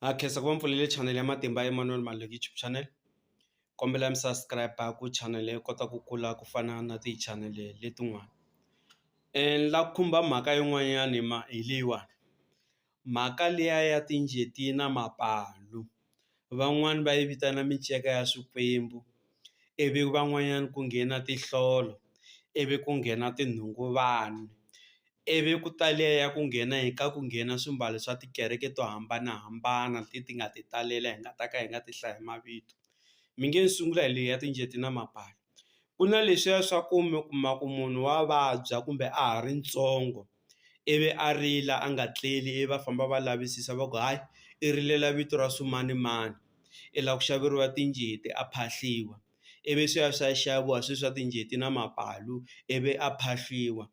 Ha khensa ku va mi pfulele channel ya Matimba Emmanuel Maluleke YouTube channel kombela mi subscribe ku channel yi kota ku kula ku fana na ti channel letin'wana ni la ku khumba mhaka yin'wanyani ma hi leyiwani mhaka liya ya tinjeti na mapalu van'wani va yi vitana minceka ya swikwembu ivi van'wanyana ku nghena tinhlolo ivi ku nghena tinhungu vanhu Ivi ku talea ku nghena hi ka ku nghena swimbalo swa tikereke to hambanahambana leti nga ti talela hi nga ta ka hi nga ti hlayi hi mavito mi nge ni sungula hi leyi ya tinjeti na mapala ku na leswiya swa ku mi kuma ku munhu wa vabya kumbe a ha ri ntsongo ivi a rila a nga tleli ivi va famba va lavisisa va ku hayi i rilela vito ra swimanimani i la ku xaveriwa tinjeti a phahliwa ivi swi ya swi ya xaviwa swe swa tinjeti na mapalu ivi a phahliwa.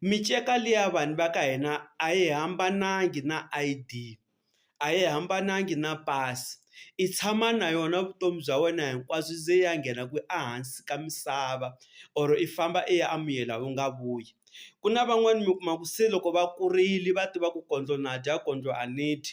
Miceka liya vanhu va ka hina a yi hambananga na I_D a yi hambananga na pasi i tshama na yona vutomi bya wena hinkwabyo ze i ya nghena kwihi ehansi ka misava or i famba i ya a muyeni u nga vuyi ku na van'wani mi kuma ku se loko va kurile va tiva ku kondlo na dya kondlo a ni dyi.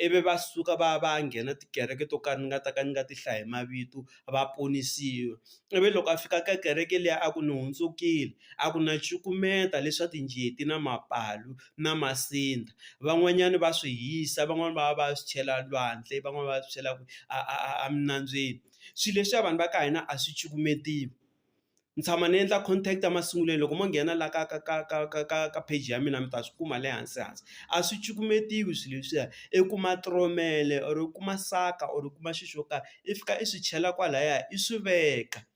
ivi va suka va ya va ya nghena tikereke to ka ni nga ta ka ni nga ti hlayi hi mavito va ponisiwa, ivi loko a fika ka kereke liya a ku ni hundzukile a ku na cukumeta leswa tinjeti na mapalu na masindza, van'wanyana va swi hisa van'wani va va va ya swi chela lwandle van'wani va ya swi chela a a a a minambyeni, swilo leswiya vanhu va ka hina a swi cukumetiwi. ni tshama ni endla contact a masungulweni loko mo nghena la ka ka ka ka ka ka ka page ya mina mi ta swi kuma le hansi hansi a swi cukumetiwi swilo leswiya i kuma tromel or u kuma saka or u kuma xi xo karhi i fika i swi chela kwalaya i swi veka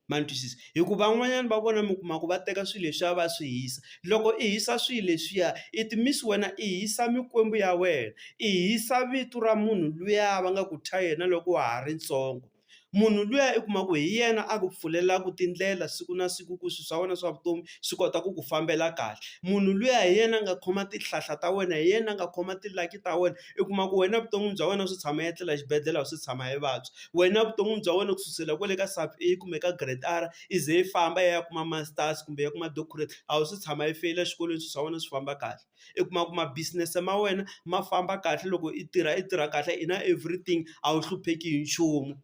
ma ni twisisa hi ku van'wanyana va vona mi kuma ku va teka swilo leswiya va swi hisa loko i hisa swilo leswiya it means wena i hisa mikwembu ya wena i hisa vito ra munhu luya va nga ku thya yena loko wa ha ri ntsongo. munhu luya i kuma ku hi yena a ku pfulelaku tindlela siku na siku ku swi swa wena swa vutomi swi kota ku ku fambela kahle munhu luya hi yena a nga khoma tihlahla ta wena hi yena a nga khoma ti-lucky ta wena i kuma ku wena vuton'wini bya wena swi tshama i etlela xibedhlele a swi tshama i vabya wena vuton'wini bya wena ku susela kwale ka sub A kumbe ka grade R i ze i famba i ya kuma masters kumbe i ya kuma doctorate a wu se tshama i feyila xikolweni swi swa wena swi famba kahle. i kuma ku ma business ma wena ma famba kahle loko i tirha i tirha kahle i na everything a wu hlupheki hi nchumu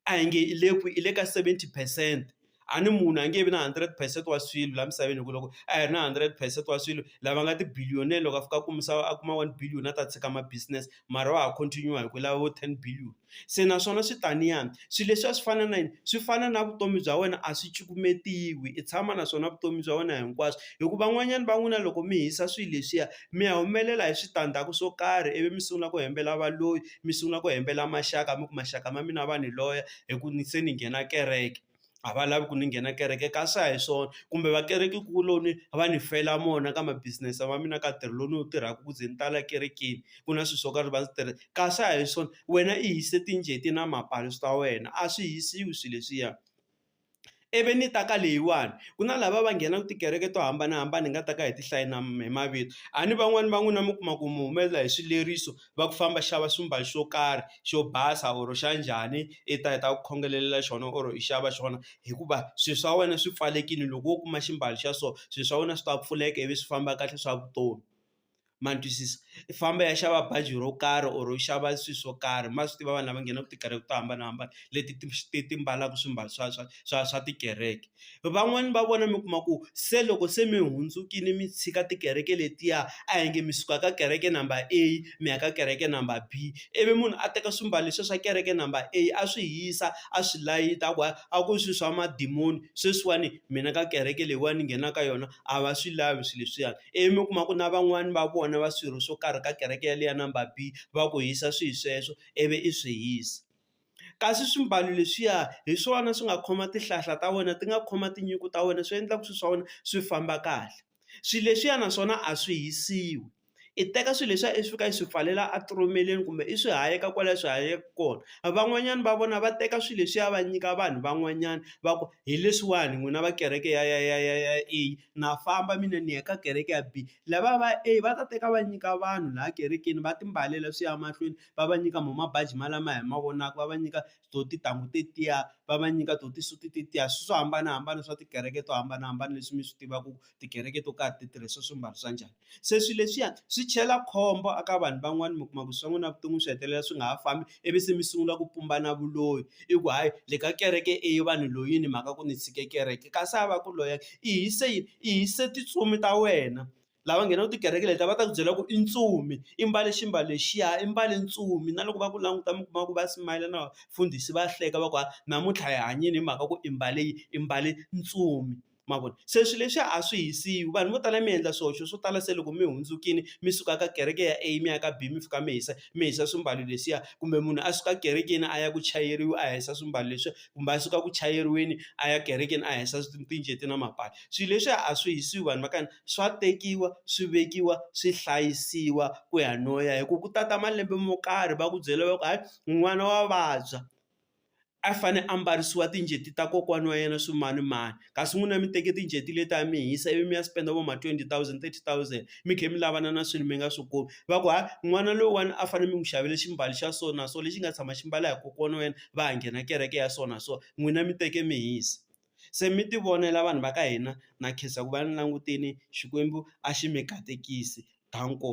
a hi nge i le kwi i le ka seventy percent a ni munhu a nge vi na hundred percent wa swilo laha misaveni hi ku loko a hi ri na hundred percent wa swilo lava nga ti-billionaire loko a fika a ku misava a kuma one billion a ta tshika ma business mara wa ha continue-a hi ku lava vo ten billion, se naswona swi taniyani swi leswiya swi fana na yini swi fana na vutomi bya wena a swi cukumetiwi i tshama naswona vutomi bya wena hinkwaswo, hi ku van'wanyana va n'wina loko mi hisa swilo leswiya mi ya humelela hi switandzhaku swo karhi ivi mi sungula ku hembela valoyi mi sungula ku hembela maxaka mi ku maxaka ma mina va ni loya hi ku ni se ni nghena kereke. a va lavi ku ni nghena kereke kasi a hi swona kumbe va kereke kuloni va ni fela mona ka ma business ma mina ka ntirho lowu ni wu tirhaka ku ze ni tala ekerekeni ku na swilo swo karhi va swi tirhisa kasi a hi swona wena i yise tinjeti na mapala swi ta wena a swi hisiwi swilo leswiya ivi ni ta ka leyiwani ku na lava va nghenaka tikereke to hambanahambana hi nga ta ka hi ti hlayi na hi mavito a ni van'wani va n'wina mi kuma ku mi humelela hi swileriso. va ku famba xava ximbalo xo karhi xo basa or xa njhani i ta heta ku khongelela xona or i xava xona hikuva swilo swa wena swi pfalelekile loko wo kuma ximbalo xa so swilo swa wena swi ta pfuleka ivi swi famba kahle swa vutomi ma ni twisisa i famba i ya xava bazi ro karhi or u xava swilo swo karhi ma swi tiva vanhu lava nghenaka tikereke to hambanahambana leti ti ti ti mbalaka swimbalo swa swa swa swa tikereke. Van'wani va vona mi kuma ku se loko se mi hundzukile mi tshika tikereke letiya a hi nge mi suka ka kereke number A mi ya ka kereke number B, ivi munhu a teka swimbalo leswiya swa kereke number A a swi hisa a swi layita a ku hayi a ku swi swa madimoni sweswiwani mina ka kereke leyiwani ni nghena ka yona a va swi lavi swilo leswiyani. Ivi mi kuma ku na van'wani va vona va swirho swo karhi ka kereke yaleyo ya number B va ku hisa swihi sweswo ivi i swi hisa. kasi swimbalo leswiya hi swona swi nga khoma tihlahla ta wena ti nga khoma tinyungu ta wena swi endlaka swilo swa wena swi famba kahle, swilo leswiya naswona a swi hisiwi i teka swilo leswiya i fika i swi pfalela a tiromeleni kumbe i swi hayeka kwalaya swi hayekaka kona, van'wanyana va vona va teka swilo leswiya va nyika vanhu van'wanyana va ku hi leswiwani n'wina va kereke ya ya ya ya ya A na famba mina ni ya ka kereke ya B, lavaya va A va ta teka va nyika vanhu laha kerekeni va timbalela swi ya mahlweni. va va nyika mo mabaji ma lama hi ma vonaka va va nyika to tintangu tetiya va va nyika to ti-suit tetiya swilo swo hambanahambana swa tikereke to hambanahambana leswi mi swi tivaka ku tikereke to karhi ti tirhisa swimbalo swa njhani se swilo leswiya swi chela khombo eka vanhu van'wani mi kuma ku swa n'wina vuton'wini swi hetelela swi nga ha fambi ivi se mi sungula ku pumbana vuloyi i ku hayi le ka kereke e vanhu loyini mhaka ku ni tshike kereke kasi a va ku loya i hise yini i hise tintsumi ta wena. lava nghenaka tikereke letiya va ta ku byela ku i ntsumi i mbale ximbalo lexiya i mbale ntsumi na loko va ku languta mi kuma ku va smile na vafundhisi va hleka va ku hayi namuntlha hi hanyile hi mhaka ku i mbale yini i mbale ntsumi ma vona se swilo leswi a swi hisiwi vanhu vo tala mi endla swihoxo swo tala se loko mi hundzukile mi suka ka kereke ya A mi ya ka B mi fika mi hisa mi hisa swimbalo leswiya kumbe munhu a suka ekerekeni a ya ku chayeriwa a hisa swimbalo leswiya kumbe a suka ku chayeriweni a ya ekerekeni a hisa na mapatwi. swilo leswiya a swi hisiwi vanhu va ka hina swa tekiwa swi vekiwa swi hlayisiwa ku ya no ya hi ku ku tata malembe mo karhi va ku byela va ku hayi n'wana wa vabya a fane a mbarisiwa tinjeti ta kokwana wa yena swimanimani kasi n'wina mi teke tinjeti leti a mi hisa ivi mi ya spend vo ma twenty thousand, thirty thousand mi kha mi lavana na swilo mi nga swi kumi va ku hayi n'wana lowuwani a fanele mi n'wi xavela ximbalo xa so na so lexi nga tshama xi mbala hi kokwana wa yena va ha nghena kereke ya so na so n'wina mi teke mi hisa. se mi ti vonela vanhu va ka hina na khensa ku va ni langutini Xikwembu a xi mi katekisi, Danko.